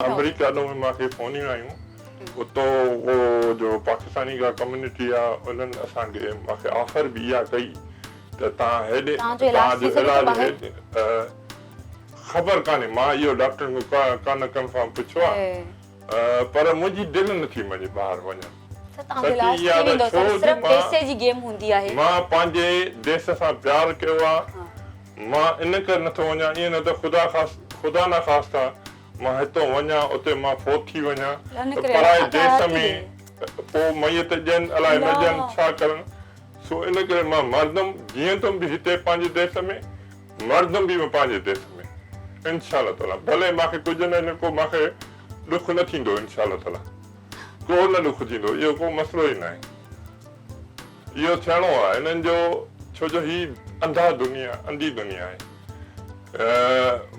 آمريڪا ڏانهن به مان کي فونيون آيون اتو اهو جو پاڪستاني جا ڪميونٽي آ انهن اسان کي مان کي آفر به اها ڪئي ته تان هيڏي تان جو علاج هيڏي خبر ڪانهي مان اهو ڊاڪٽرن کي ڪانه ڪنفرم پڇيو آ پر منهنجي دل نه ٿي مڃي ٻاهر وڃڻ سچي اها ته ڇو جو مان مان پنهنجي ديس سان پيار ڪيو آ مان ان ڪري نه ٿو وڃان ائين نه ته خدا خدا نه خاصتا مان هتئون وڃان، اتي مان فوت ٿي وڃان ته پرائي ديس ۾ پوء ميت ڄن الاء نه ڄن، ڇا ڪرن؟ سو ان ڪري مان مردم، جيئندم به هتي پنهنجي ديس ۾، مردم به پنهنجي ديس ۾. انشاء الله تعاليٰ ڀلي مان کي ڪجهه نه ڪو مان کي ڏک نه ٿيندو انشاء الله تعاليٰ ڪو نه ڏک ٿيندو اهو ڪو مسئلو ئي ناهي. اهو ٿيڻو آهي هنن جو ڇو جو هي انڌا دنيا انڌي دنيا آهي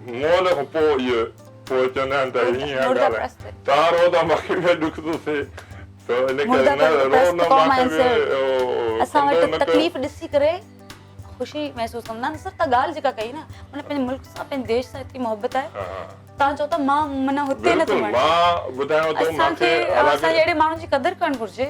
مئل کان پوء اهي پوء چوندا آهن ته هي هيئن ڳالهائي ته رو ته ماکي به ڏک ٿو ٿئي ته ان ڪري نه رو نه ماکي به اسان وٽ تڪليف ڏسي ڪري خوشي محسوس ڪندا آهن سر ته ڳالهه جيڪا ڪئي نه مطلب پنهنجي ملڪ سان پنهنجي ديش سان ايتري محبت آهي تان چئو ته مان معنيٰ هتي نه ٿو وڃان مان ٻڌايو ته ماکي اسان کي اهڙي ماڻهن جي قدر ڪرڻ گهرجي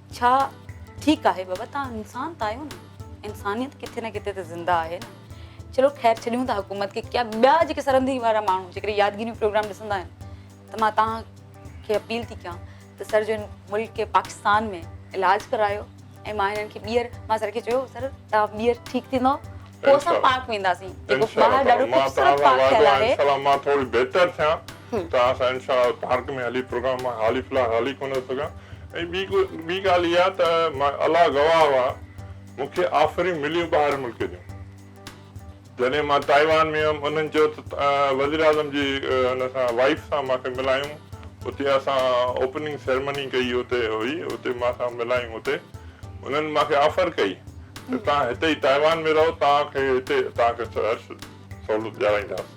ڇا ٺيڪ آهي بابا توهان انسان ته آهيو نه انسانيت ڪٿي نه ڪٿي ته زنده آهي نه چلو خير ڇڏيون ٿا حڪومت کي ڪيا ٻيا جيڪي سرندي وارا ماڻهو جيڪڏهن يادگيريون پروگرام ڏسندا آهن ته مان توهان کي اپيل ٿي ڪيان ته سر جو ملڪ پاڪستان ۾ علاج ڪرايو ۽ مان هنن کي ٻيهر مان سر کي چيو سر توهان ٻيهر ٺيڪ ٿيندو پوء اسان پاڪ وينداسين جيڪو ٻاهر ڏاڍو خوبصورت پاڪ ٺهيل آهي مان ٿوري بهتر ٿيان ته اسان انشاء الله پارڪ ۾ هلي پروگرام مان حالي فلحال هلي ڪونه ٿو سگهان ۽ ٻي ٻي ڳالهه اها ته الله گواهه هئا مون کي آفريون مليون ٻاهر ملڪ جون جڏهن مان تائيوان ۾ هيم انهن چيو ته وزيراعظم جي ان سان وائيف سان مان کي ملايون اتي اسان اوپننگ سيرمني ڪئي اتي هئي اتي مان سان ملايون اتي انهن مان کي آفر ڪئي ته توهان هتي ئي تائيوان ۾ رهو توهان کي هتي توهان کي هر سهولت ڏيارائينداسين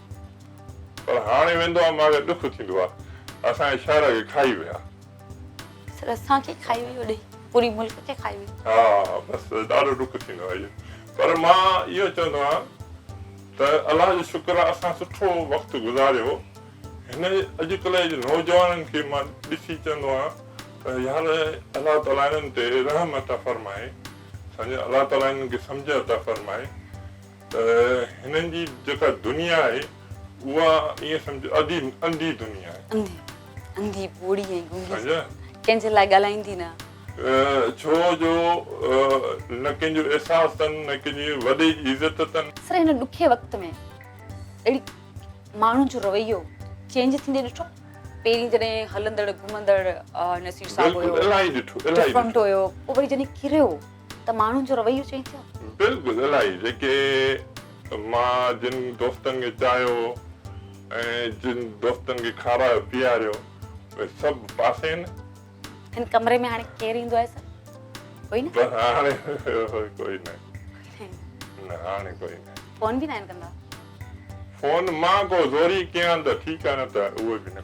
پر هاڻي ويندو آ ماڳ ڏک ٿيندو آ اسان جي شاعر کي کائي ويا. سر اسان کي کائي ويئي اوڏي پوري ملڪ کي کائي ويئي. ها بس ڏاڍو ڏک ٿيندو آ اهو پر مان اهو چوندو آهيان ته الله جو شڪر آ اسان سٺو وقت گذاريو هن اڄڪلهه جي نوجوانن کي مان ڏسي چوندو آهيان ته يار الله تعالي هنن تي رحم عطا فرمائي سمجهه الله تعالي هنن کي سمجهه عطا فرمائي. ته هنن جي جيڪا دنيا آهي اها ائين سمجهه اڌي انڌي دنيا آهي. انڌي انڌي ٻوڙي ۽ گنگي سمجهه ڪنهن جي لاء ڳالهائيندي نه. ڇو جو نه ڪنهن جو احساس اٿن نه ڪنهن جي وڏي جي عزت اٿن. سر هن ڏکي وقت ۾ اهڙي ماڻهن جو رويو چينج ٿيندي ڏٺو پهرين جڏهن هلندڙ گهمندڙ نصير صاحب هيو ڊفرنٽ هيو پوء وري جڏهن ڪريو. ته ماڻهن جو رويو چينج ٿيو؟ بلڪل الائي جيڪي مان جن دوستن کي چاهيو ۽ جن دوستن کي کارايو پياريو اهي سڀ پاسي آهن. هن ڪمري ۾ هاڻي ڪير ايندو آهي سر؟ ڪوئي نه؟ بس هاڻي ڪوئي نه. نه هاڻي ڪوئي نه. فون به ناهن ڪندا؟ فون مان ڪو زوري ڪيان ته ٺيڪ آهي نه ته اهو به نه.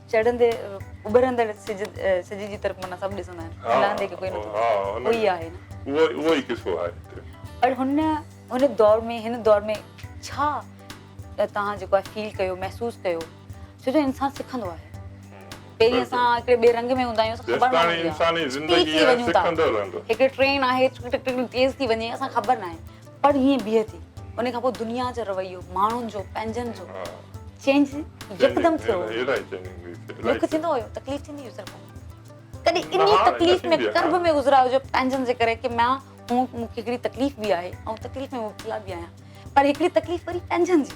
چڙهندي اڀرندڙ سج سج جي طرف معنيٰ سڀ ڏسندا آهن ها لهندي ڪي ڪوئي نٿو ها ها اهو ئي آهي نه اهو اهو ئي قصو آهي هتي پر هن هن دور ۾ هن دور ۾ ڇا توهان جيڪو آهي فيل ڪيو محسوس ڪيو ڇو جو انسان سکندو آهي پهرين اسان هڪڙي ٻئي رنگ ۾ هوندا آهيون اسان خبر نه هوندي آهي انساني زندگي سکندو رهندو هڪڙي ٽرين آهي ٽڪ ٽڪ ٽڪ تيز ٿي وڃي اسان کي خبر نه آهي پر ائين بيهي ٿي ان کان پوء دنيا جو رويو ماڻهن جو پنهنجن جو چينج يڪدم ٿيو ڏک ٿيندو هيو تڪليف ٿيندي هيو سر ڪڏي اني تڪليف ۾ قرب ۾ گذرا هجو پنهنجن جي ڪري ڪي ميان هون مون کي هڪڙي تڪليف به آهي ۽ تڪليف ۾ مبتلا به آهيان پر هڪڙي تڪليف وري پنهنجن جي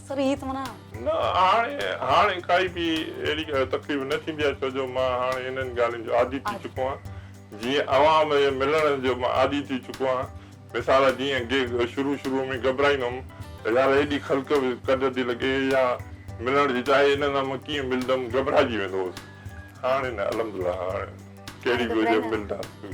سر هي ته منا نه هاڻي هاڻي ڪائي به اهڙي تڪليف نه ٿيندي آهي ڇو جو مان هاڻي انهن ڳالهين جو عادي ٿي چڪو آهيان جيئن عوام ملڻ جو مان عادي ٿي چڪو آهيان مثال جيئن گيگ شروع شروع ۾ گهٻرائيندو هوم ته يار هيڏي خلق ڪڍ ٿي لڳي يا ملڻ جي چاهي هن سان مان ڪيئن ملندم گهٻرائجي ويندو هوس هاڻي نه الحمدلله هاڻي ڪهڙي به وجهه ملنداسين.